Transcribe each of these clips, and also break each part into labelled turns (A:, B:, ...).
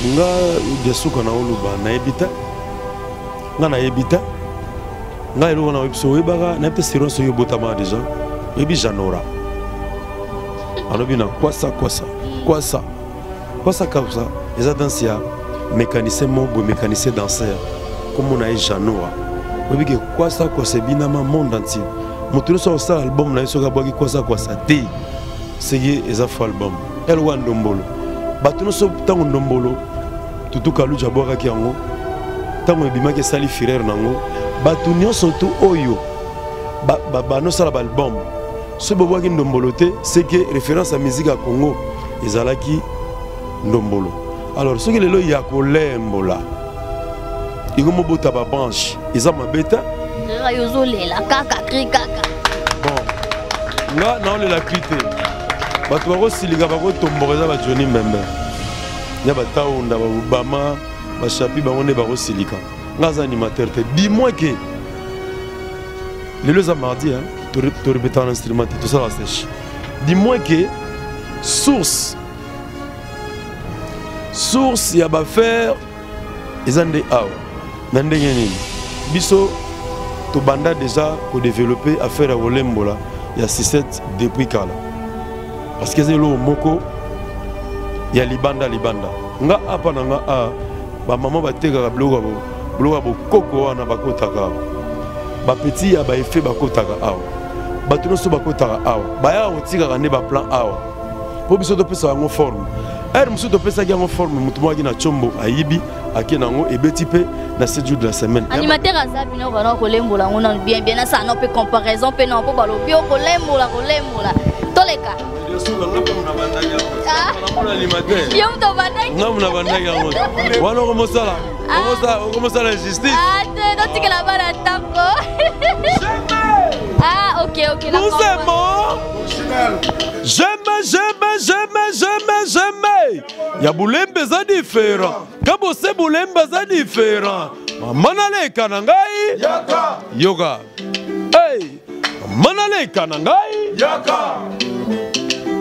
A: nga diasuka na oluba nayebi te nga nayebi te nga eloko na oyebisa oyebaka nayebi te siron soki obotama deja oyebi janora alobi na kwasa kwasa kwasa kwasa kwasa eza danse ya mécanicien moko boye mécanicien danser nkombo na ye janora oyebi ke kwasa kwasa ebinama monde entier moto nyonso akosala album na ye soki abwaki kwasa kwasa te seki eza fo album elwa ndombolo bato nyonso ntango ndombolo tutu kaluji abwakaki yango ntango ebimaki esali firere na yango bato nyonso tu oyo banosala ba, ba, baalbum soki bobwaki ndombolo te seke référence ya miziki ya congo ezalaki ndombolo alors soki lelo ya kolembola iko mobota ba branche eza mabe te nga yo ozolela
B: kaka kri kaka bon
A: nga naolela kri te bato bakosilika bakotomboka eza bajoni mbembe ya bataunda baobama bashapi bango nde bakosilika nga aza animateur te dimoi ke lelo eza mardi torepetaka na instrument te tosala seche dimoi ke source source ya bafaire eza nde awa na ndenge nini biso tobanda deja kodevelope affaire ya kolembola ya sisete depuis kala parce que eza eloko moko ya libanda libanda nga apa na nga a bamama batekaka biloko ya bokoko wana bakotaka awa bapeti ya baefe bakotaka awa bato nyonso bakotaka awa bayaka kotikaka nde baplan awa mpo biso topesa yango forme heure mosusu topesaki yango forme motu moyaki na combo ayibi ake na yango ebeti mpe na 7 jour de la semaine animateur aza bino
B: bana okolembola yango nano bien bien asa no mpe comparaison mpe na mpo balobi okolembola kolembola toleka yo moto obandaki na bandaki yango
A: wana okomosala ah. okomosala justice ah, totikela
B: bana ntango ah ok ok J'aime,
A: j'aime, j'aime, j'aime, j'aime. Ya bulembe za différent. Kabo se bulembe za différent. Mama naleka na ngai. Yaka. Yoga. Hey. Mama naleka na ngai. Yaka.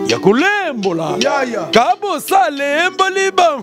A: Ya kolembola. Yaya. Kabo sa lemboli ba.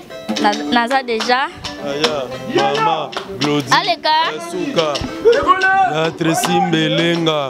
B: naza deja aya mama
A: glodi aleka suka ya tresi mbelenga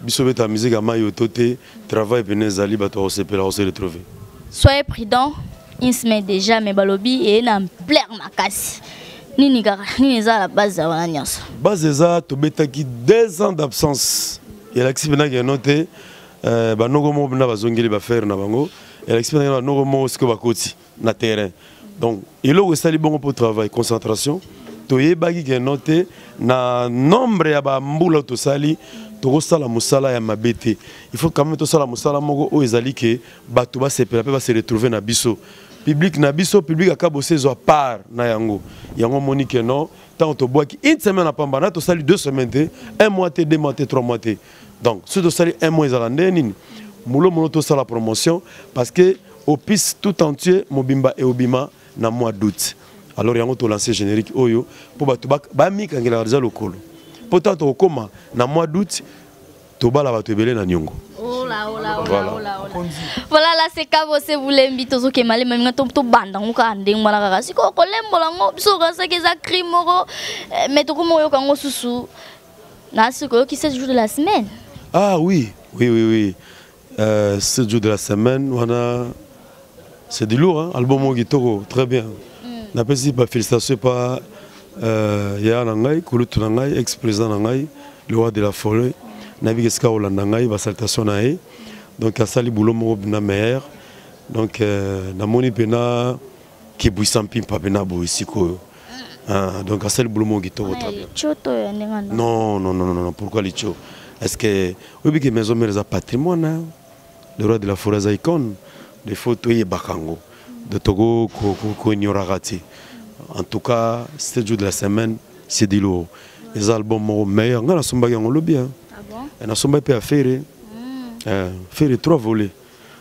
A: biso beta musique ya mayo to te travail pene ezali bato ya kosepela kose retrouver soyez
B: prudent insme déjà mais balobi eye na plaire makasi nini kaka nini eza la base ya wana nyonso base eza
A: tobetaki deux ans d'absence elakisi mpena keno te euh, banoko moko mpena bazongeli bafere na bango elakisi mpena keno banoko moko sikoyo bakoti na terrain donc eloko esali bongo mpo travail concentration toyebaki keno te na nombre ya bambula tosali tokosala mosala ya mabe te il faut quand même tosala mosala moko oyo ezali ke bato basepela mpe base retrouve na biso public na biso public akabosi ezwa part na yango yango omoni keno ntango tobwaki une semaine apamba na tosali deux semaine te un mois te deux mois te trois mois te donc soki tosali un mois ezala nde nini mulo mono tosala promotion parce que opus tout entier mobimba eobima na mois d'août alors yango tolanse générique oyo mpo bato bamikangelaka deja lokolo mpo ntango tokokoma na mois d'août tobala bato ebele na niongo Ola, ola, ola, voilà. ola, ola.
B: voilà la seka bose bulembi tozoke malema minga tobanda ngo kaka ndenge wana kaka sikoyo kolembola ngo biso okasaki eza crime moko eh, me tokoma oyoka ngo susu Na ce que qui c'est jour de la semaine. Ah oui,
A: oui oui oui. Euh, ce jour de la semaine, on a c'est du lourd hein, album au guitaro, très bien. Mm. Na pesi ba félicitations pas euh ya na ngai, kulutu na ngai, ex-président na ngai, le roi de la forêt. Na bi keska olanda ngai ba salutations na ye. Donc asali boulot moko bina meilleur. Donc euh, na moni pena qui buisant pimpa pena bo ici ko. Ah, donc asali boulot moko kitoko très bien licho to ya
B: ndenge wana non non non non pourquoi
A: licho est ce que oyebi ke maison mère eza patrimoine hein? le roi de la forêt aza icône de faut toyebaka yango de toko koignoraka te en tout cas sept jours de la semaine c'est de l'eau eza album moko meilleur ngai nasombaki yango lobi hein? ah bon? Eh, nasombaki
B: mpe ya fere
A: hmm. eh, fere trois volets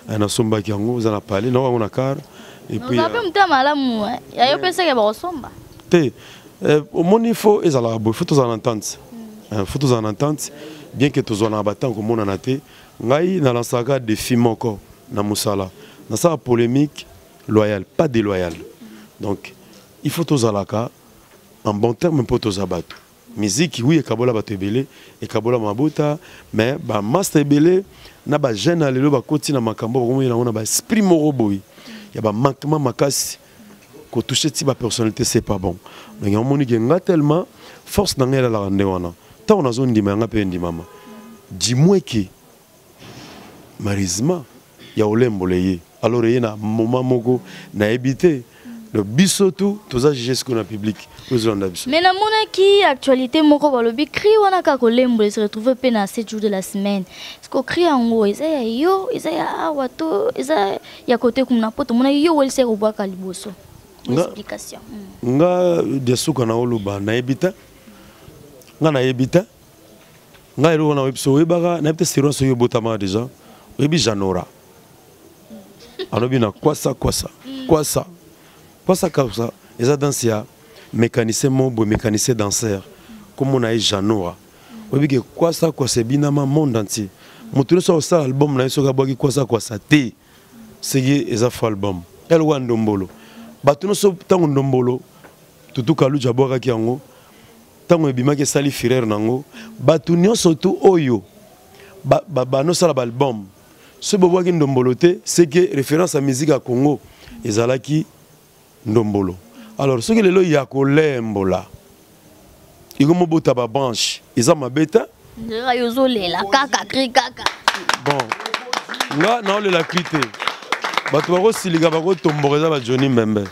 A: Eh, nasombaki yango eza na pale nao yango na car epuipe euh, moto ya malamu
B: eh. ya yo peseke bakosomba te
A: eh, omoni fo ezalaka boye fo tozala na ntante hmm. fo tozala na ntante bien ke tozwanaka batango komonana te ngai nalansaka defi moko na mosala nasala polémique loyale pas déloyale donc il faut tozalaka en bon terme mpo toza bato Musique oui ekabola bato ebele, ekabola mabota, mais ba masta ebele na ba jeunes ya lelo bakoti na makambo bakomeli yango na ba esprit moko boye ya ba manquement makasi ko toucher ti ba personnalité c'est pas bon. Donc yango moni ke nga tellement force na ngai elalaka nde wana. Ntango nazondima yanga mpe endimama. Dimue ke marizma ya olembola eye alors eye na moma moko nayebi te donc biso tu toza juge sikoyo na public tozolanda biso mais
B: namonaki actualité moko balobi cri wana kaka kolembola ese retrouve mpe na 7 jours de la semaine siko cri yango eza ya yo eza ya awa to eza ya kote kuna mpo tomonaki yo welisi ya kobwaka liboso explication nga hmm.
A: diasuka na oloba nayebi te nga nayebi te ngai eloko na oyebi so oyebaka nayebi te sirwa soki obotamaka deja oyebi janora alobi na kwasa kwasa kwasa kwasa kwasa eza danse ya mécanicien moko boye mécanicien danseur nkombo na ye janora oyebi ke kwasa kwasa ebinama monde entier moto nyonso akosala album na ye soki abwaki kwasa kwasa te seki eza fo album eloko ya ndombolo bato nyonso ntango ndombolo tutukaluja abwakaki yango ntango ebimaki esali fureur na yango bato nyonso tu oyo banosala baalbum soki bobwaki ndombolo te seke référence ya musique ya congo ezalaki ndombolo alors soki lelo ya kolembola ekomobota babranche eza mabe te nzela yo ozolela
B: kaka kri kaka bon
A: nga naolela kri te bato bakosilika bakotomboka eza bajoni mbembe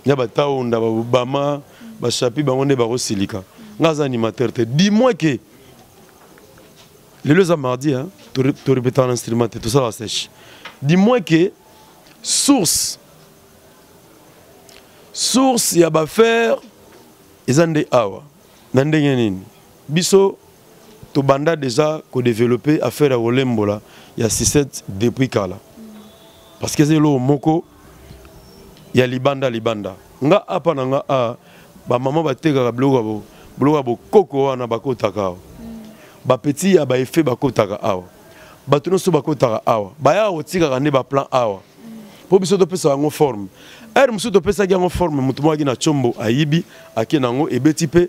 A: ya bataonda babama bachapi bango nde bakosilika nga aza animateur te dis-moi ke lelo eza mardi torepetaka na instrument te tosalaka sèche dis-moi ke source source ya bafaire eza nde awa na ndenge nini biso tobanda deja kodeveloppe affaire ya kolembola ya 67 depuis kala parce que eza eloko moko ya libanda libanda nga apa na nga a ah, bamama batekaka biloko ya biloko ya bokoko wana bakotaka awa bapeti ya baefe bakotaka awa bato nyonso bakotaka awa bayaka kotikaka nde baplan awa mpo biso topesa yango forme ere mosusu topesaki yango forme moto moyaki na combo ayibi ake na yango ebeti mpe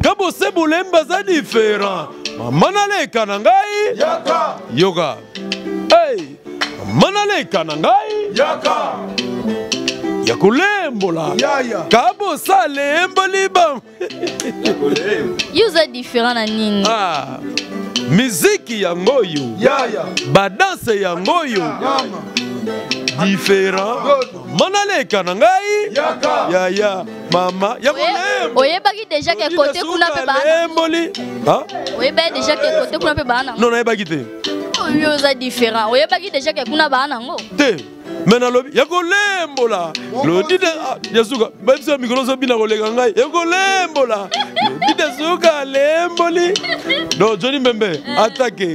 A: nga bose bolemba za diferent mama naleka na ngai yaka yoka hey. mama naleka na ngai yaka ya kolembola yaya kabosa alemboli bango yo oza
B: diferent na nini ah.
A: miziki yango oyo yaya badanse yango oyo diferent manaleka na ngai yaya mama ya kolembo oyebaki déjà ke
B: côté kuna pe ba lemboli ha
A: oyebaki
B: déjà ke côté kuna pe ba na non oyebaki te
A: oyo oh, oza
B: différent oyebaki déjà ke kuna ba na ngo te me
A: nalobi ya kolembola lodide ah, ya suka bayebisa mikolo ozobina koleka ngai ya kolembola lodide suka alemboli do joni mbembe atake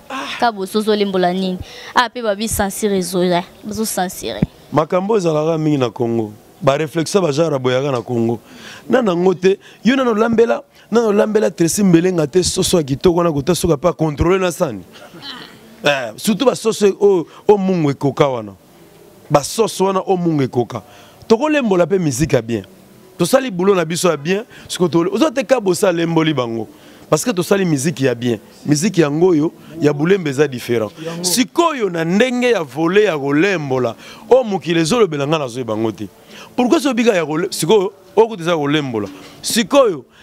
B: ah. ka bozozo olimbola nini ah mpe babi sensire ezoya bazo sensire makambo ezalaka
A: mingi na congo bareflexion bajara boyaka na congo na nango te yo nano olambela nano olambela tresi mbelenga te soso ya kitoko wana kota soki ape akontrole na sani eh, surtout basoso oyo oh, oh, mungu ekoka wana ba sauce wana o munga ekoka tokolembola mpe miziki ya bien tosali bulo na biso ya bien sikoyo ozo te kabosi alemboli bango parce que tosali miziki ya bien miziki yango oyo ya bulembe eza différent sikoyo na ndenge ya vole ya kolembola oyo mokili ezolobela ngai nazoyeba yango te pourkui soki bika ya sikoyo oyo kutu eza kolembola sikoyo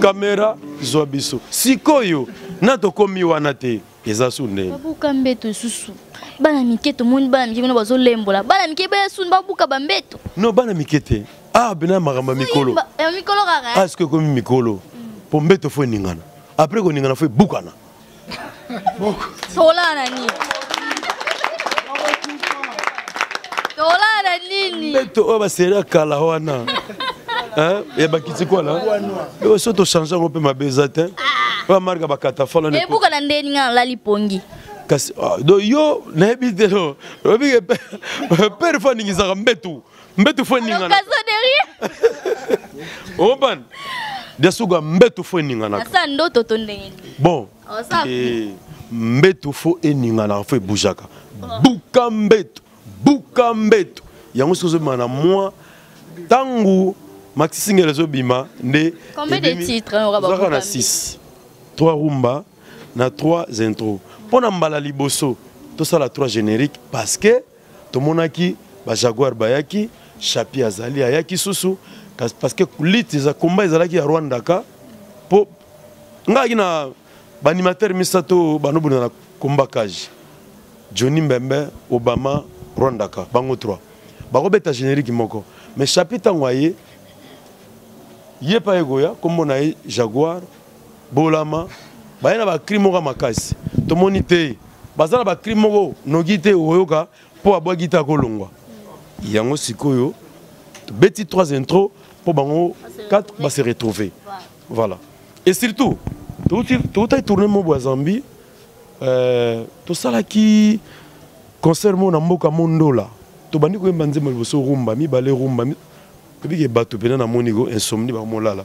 A: kamera zwa biso sikoyo na tokomi wana te eza su ndenge babuka mbeto lisusu
B: bana mike tomoni bana mike kuna bazolembola bana mike baya suni babuka bambeto no bana mike te
A: ah bena makambo ya mikolo
B: aske ekomi mikolo
A: mpo mbeto fo eningana apres koningana fo ebukana tokolala
B: na nini tokolala na nini mbeto oyo baseri ya
A: kala wana ya bakiti kwana oyo so tochange yango mpe mabe eza te oyo amarka bakatafala ebuka na ndeni nga nalali
B: pongi kasi ah,
A: do yo nayebi te no oyebi pere fo aningisaka mbetu mbetu fo eningana oban diasuga mbetu fo eninganaka ndoto to ndenge
B: bon oh,
A: eh, mbetu fo eninganaka fo ebujaka oh. buka mbetu buka mbetu yango soki ozobima na mwa ntango maxisingel ezobima nde
B: ozaka na 6
A: 3 rumba na 3 intro mpo na mbala liboso tosala 3 générique parce que tomonaki ba jaguar bayaki chapi azali ayaki susu parce que lutte eza combat ezalaki ya rwanda ka mpo ngaki na baanimateur misato banobunda na combat cage johnny mbembe obama rwanda ka bango 3 bakobeta générique moko mais chapi ntango aye ye mpa ekoya nkombo na ye jaguar bolama baye na bacrime moko ya makasi tomoni te baza na bacrime moko noki te okoyoka mpo abwaki te akolongwa yango sikoyo tobeti trois intro mpo bango 4 base retrouve voilà et surtout toutaki tourne mobo ya zambie euh, tosalaki concert moko na mboka mondola tobandi koyemba nzembo liboso rumba mibale rumba ebike bato mpena namoni ko insomni bakomolala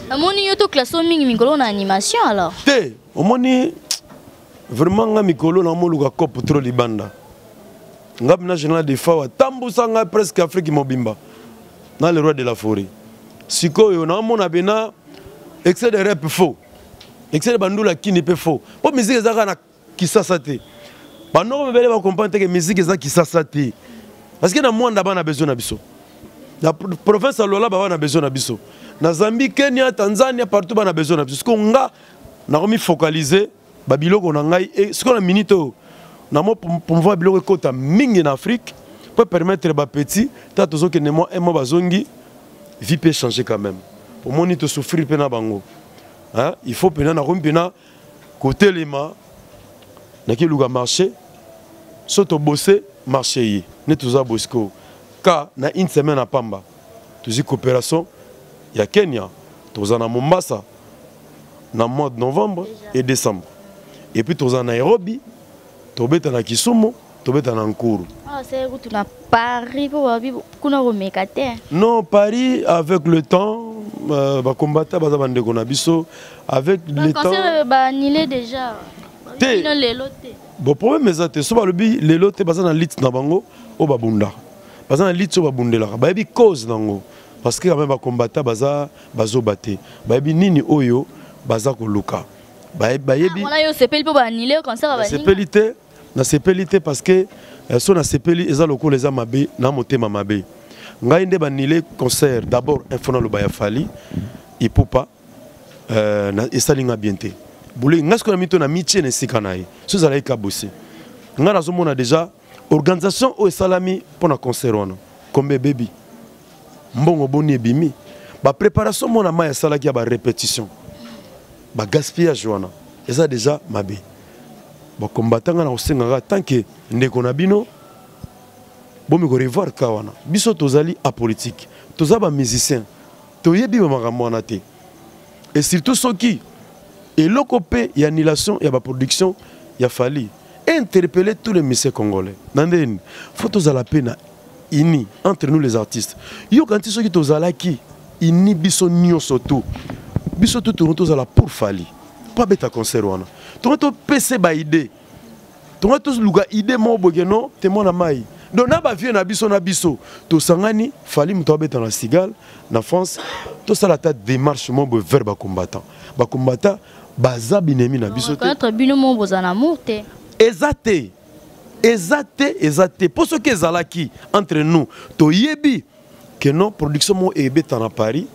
B: amoni yo to classe o mingi mikolo na animation alors te omoni
A: vraiment nga mikolo na moluka cope trop libanda nga bina général de fawa tambusa nga presque afrique mobimba na le roi de la forêt sikoyo naomona bena excès de rep faux excès de bandula kini mpe faux mpo miziki ezalaka na kisasa te banoko mibele bacomprendre te ke miziki eza kisasa te parce que na mwanda bana besoin na biso na province ya lolaba bana besoin na biso na zambie kenya tanzania partout bana besoin na biso siko nga nakomi focaliser babiloko na ngai e sikoyo na minute oyo namo promouvoir biloko ekota mingi na afrique mpo permettre bapetit ta tozokende mwa emo bazongi vie mpe changer quand même omoni tosouffrir mpe na bango il faut mpenza nakomi mpenza kotelema nakiluka marché so tobose marché ye nde toza bosiko ka na une semaine ya pamba tozwi coopération ya kenya toza na mombasa na mois de novembre et décembre epuis toza na nairobi tobeta na kisumu tobeta na nkuru ah, kutu na
B: paris mpo babi kuna komeka te non paris
A: avec le temps euh, bakombata baza bandeko na biso avec le temps euh, baanile
B: déjà te lelo
A: te bon problème eza te so balobi lelo te baza na lite na bango oyo babundaka baza na lite oyo babundelaka bayebi cause na yango parce que kame bakombata baza bazoba te bayebi nini oyo baza koluka bayebi
B: ah, sepeli te
A: nasepeli te parce que euh, so nasepeli eza lokola eza mabe na motema mabe ngai nde banile concert d'abord info naloba ya fali ipupa euh, esali ngai bien te bule ngai sikoyo na mito na mitie na esika na ye so ezalaki kabose ngai nazomona déjà organisation oyo esalami mpo na concert wana kombe ebebi mbongo boni ebimi bapreparation mwana mai asalaki ya barépétition bagaspillage wana eza déjà mabe ba combattant nga na kosenga kaka tant que ndeko na bino bomi ko revoir ka wana biso tozali apolitique toza ba musicien toyebi ba makambo wana te et surtout soki eloko mpe ya annulation ya baproduction ya fali interpelle tous les musiciens congolais na ndeni fo tozala mpe na ini entre nous les artistes yo kanti soki tozalaki ini biso nyonso tu biso tu tourno tozala pour fali mpo abeta concert wana tonga topese baide tonga toluka ide moko boke no te mwana mai donc na bavieux na biso na biso tosangani fali moto abeta na sigal na france tosala ata démarche moko boye vers bacombattant bacombattant baza binemi na biso te bino moko bozala na
B: mour te eza te
A: eza te eza te mpo soki ezalaki entre nous toyebi que non production moko ebeta na paris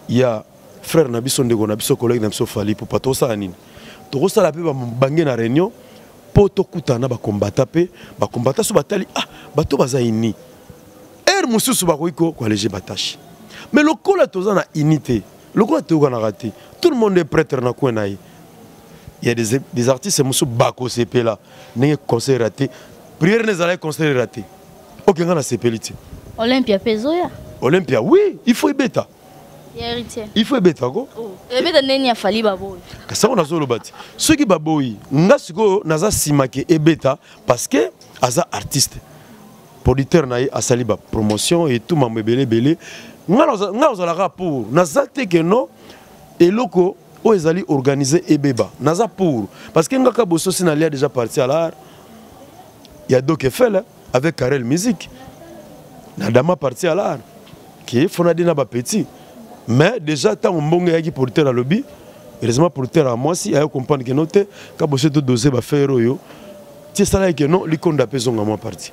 A: ya frère na biso ndeko na biso collègue na biso fali pupa tokosala nini tokosala mpe bange na réunion mpo tokutana na bakombata mpe bakombata so batali ah bato baza ini heure mosusu bakoki koalege batache mais lokola toza na unité lokola toyokanaka te tout le monde est prêtre na coin na ye il y a des, des artistes mosusu bakosepela ndenge conseil raté prière ne ezalaki conseil raté oke ngai nasepeli te olympia mpe ezoya
B: olympia oui
A: il faut ebeta il faut ebeta ko oh. ebeta ndeni ya
B: fali baboyi kasi yango nazoloba te
A: soki baboyi nga sikoyo naza nsima ke ebeta parce que aza artiste producteur na ye asali bapromotion etu mambo ebele ebele nga ozalaka mpo naza te ke no eloko oyo ezali organise ebeba naza pour parce que ngaka bososi nalia déjà parti à l'art ya doc efele avec carel musique na dama parti à l'art ke fonadi na bapetit mais déjà ntango mbongo eyaki producteur alobi heureusement producteur ya mwasi ayo comprendre keno te kaboso todose bafere oyo ti esalaki keno likonda mpe ezonga mwa parti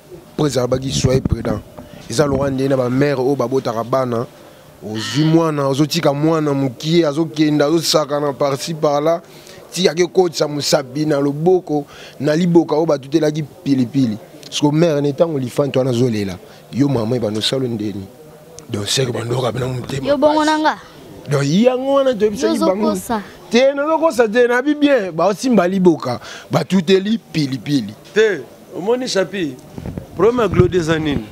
C: Preza alobaki soyez prudent. Eza lokola nde na ba mère oyo babotaka bana ozwi mwana ozotika mwana mokie azokenda azosakana parci par là ti ake kotisa mosapi na loboko na liboka oyo batutelaki pilipili siko mare ne ntango lifanti wana azolela yo mama ebanda osalo ndeni donc seke bandoka bina motema yo bongo na nga
B: donc yango
C: wana toyebisaki bango te nazokosa te nabi bien baosimba liboka batuteli pilipili te
A: omoni chapi problème ya glodi eza nini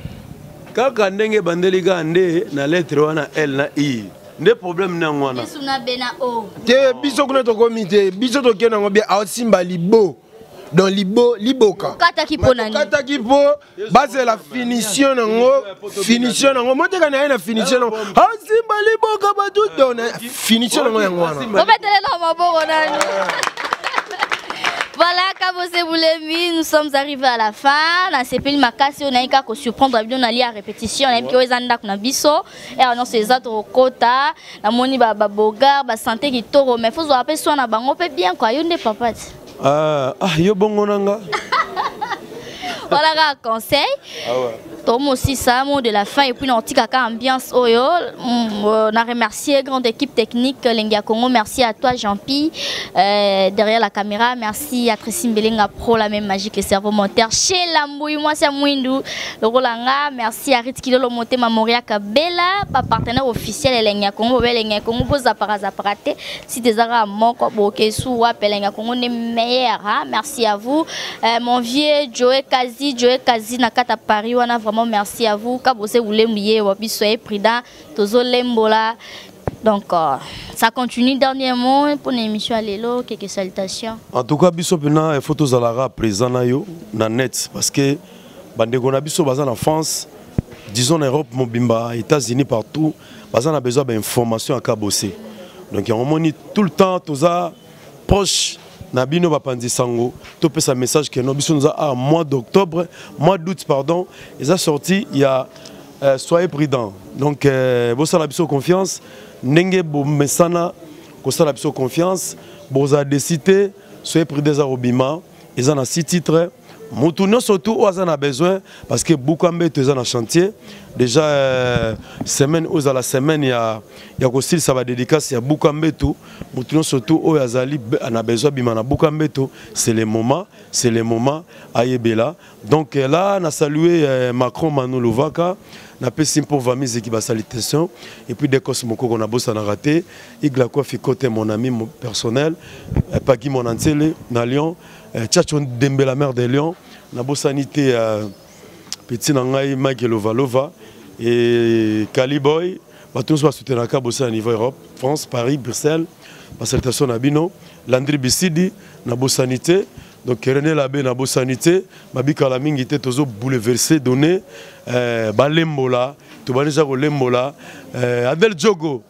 A: kaka ndenge ebandeli kaka nde na lettre wana l na i nde problème nde yango wana
B: te biso kuna
C: tokomi te biso tokende yango bie aosimba libo donc libo liboka
B: kataki mpo
C: bazela finition nango finition nango moteka na ye na finition nango asimba ah, liboka batuto na finition nango yango wana obetelela maboko
B: nani Voilà, Kabose Boulemi, nous sommes arrivés à la fin. La CPL Makassi, on a eu qu'à surprendre, on a lié à répétition, on a eu qu'à Zanda Kunabiso, et on a eu les autres au Kota, la Moni Babogar, la santé qui toro, mais il faut se rappeler, soit on a bango, bien quoi, il y a des papas. ah, ah
A: yo bongo na nga wana
B: kaka conseil ah tomosisa mot de la fin epuis na otikaka ambiance oyo mm, euh, na remercier grande équipe technique lengi ya congo merci à toi jean pi euh, derrière la caméra merci à tracy mbelenga pro la même magique le cerveau monteur chez lambui mwasi ya mwindu lokola nga merci à rit kilolo motema moriaka bela bapartenaire officiel ya lengi ya congo bobe lengi ya congo bozapaka zapaka te site eza kaka moko bokesu wapi elengi ya kongo nde meilleur ha merci à vous euh, mon vieux joe kazi joe kazi na kata paris wana vraiment merci à vous kabose bulembu ye wa biso ye prudent tozolembola donc euh, ça continue dernier mot mpo na émission ya lelo keke salutation en tout cas biso mpena
A: il faut tozalaka présent na yo na net parce que bandeko na biso baza na france disons na europe mobimba états-unis partout baza na besoin bainformation ya kabose donc yango omoni tout le temps toza proche na bino bapanzi sango topesa message keno biso noza a mois d'octobre mois d'août pardon eza sorti ya euh, soyez prudent donc euh, bosala biso confiance ndenge bomesana kosala biso confiance bozala desite soyez prudent eza kobima eza na si titre mutu nyonso tu oyo aza na besoin parce que buka mbeto eza na chantier déjà euh, semaine oyo ezala semaine ya, ya kosilisa badédicace ya buka mbeto mutu nyonso tu oyo azali na besoin abima na buka mbeto c'est le moment c'est le moment ayebela donc euh, là na salue euh, macron manu lovaka napesi mpo vamiziki basalitation et puis decos mokoko nabosanaka te iglakofi cote mon ami personnel paki monantsele na lyon eh, Chacho Dembe la mère des Lions nabosani te euh, petit na ngai Mike Lovalova et Caliboy bato nyonso basutenaka bosana niveau Europe France Paris Bruxelles basalutation na bino Landry Bisidi nabosani te donc René Labe nabosani te babikala mingi te tozo bouleverser donner euh, balembola tobandi deja kolembola euh, Adel Diogo